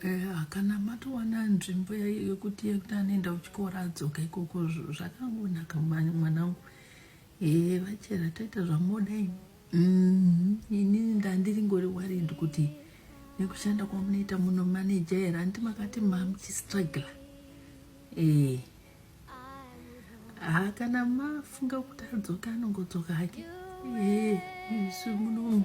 Eh, kana matowana nzvimbo yekuti yekuti anoenda kuchikoro adzoka ikoko zvakangonaka mwanangu ee eh, vachera taita zvamoda ini mm-hmm. ini ndandiringori worried kuti nekushanda kwamunoita muno maneja here hanti makati mamuchistrugla ee eh. haa kana mafunga kuti adzoka anongodzoka hake ee isu munomu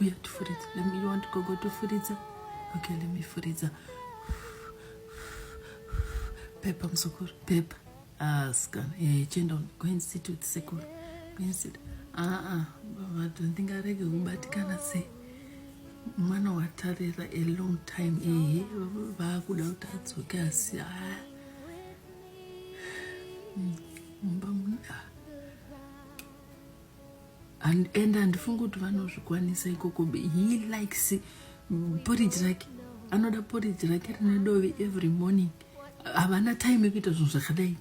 uya tifuridza let me you want to go go tifuridza okay let me furidza pepa muzukuru pepa aska ah, eh chenda go and sit with sekuru go and sit ah ah baba don't think arege kubatikana sei mwana watarira a long time ehe vaakuda kuti adzoke asi haa ah. mumba hmm, muna and and handifungi kuti vanozvikwanisa ikoko he likes porridge rake anoda porridge rake rine dovi every morning havana time yekuita zvinhu zvakadai